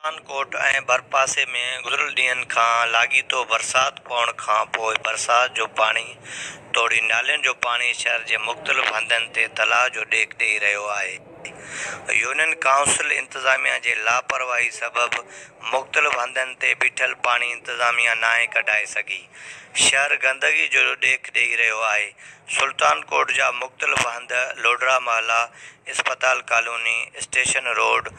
پٺان ڪوٽ ۽ ڀرپاسي ۾ گذريل ڏينهن کان لاڳيتو برسات پوڻ کان پوء برسات جو پاڻي توڙي نالين جو پاڻي شهر جي مختلف هنڌن تي تلاء جو ڏيک ڏئي رهيو آهي. يونين ڪائونسل انتظاميا جي لاپرواهي سبب مختلف هنڌن تي بيٺل پاڻي انتظاميا ناهي ڪڍائي سگهي. شهر گندگي جو ڏيک ڏئي رهيو آهي. سلطان ڪوٽ جا مختلف هنڌ لوڍرا محلا، اسپتال ڪالوني، اسٽيشن روڊ،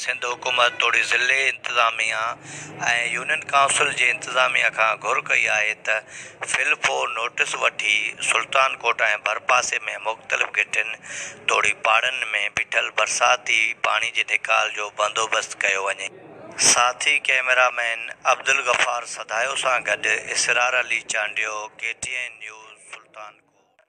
سنڌ حڪومت توڙي ضلعي انتظاميه ۽ يونين ڪائونسل جي انتظاميه کان گهر ڪئي آهي ته فلپو نوٽيس وٺي سلطان ڪوٽ ۽ ڀرپاسي ۾ مختلف گهٽين توڙي پاڙن ۾ بيٺل برساتي پاڻي جي نيڪال جو بندوبست ڪيو وڃي. ساٿي ڪئميرا مين عبدالغفار سڌايو سان گڏ Israr Ali Chandio, K T N news, Sultan ڪوٽ.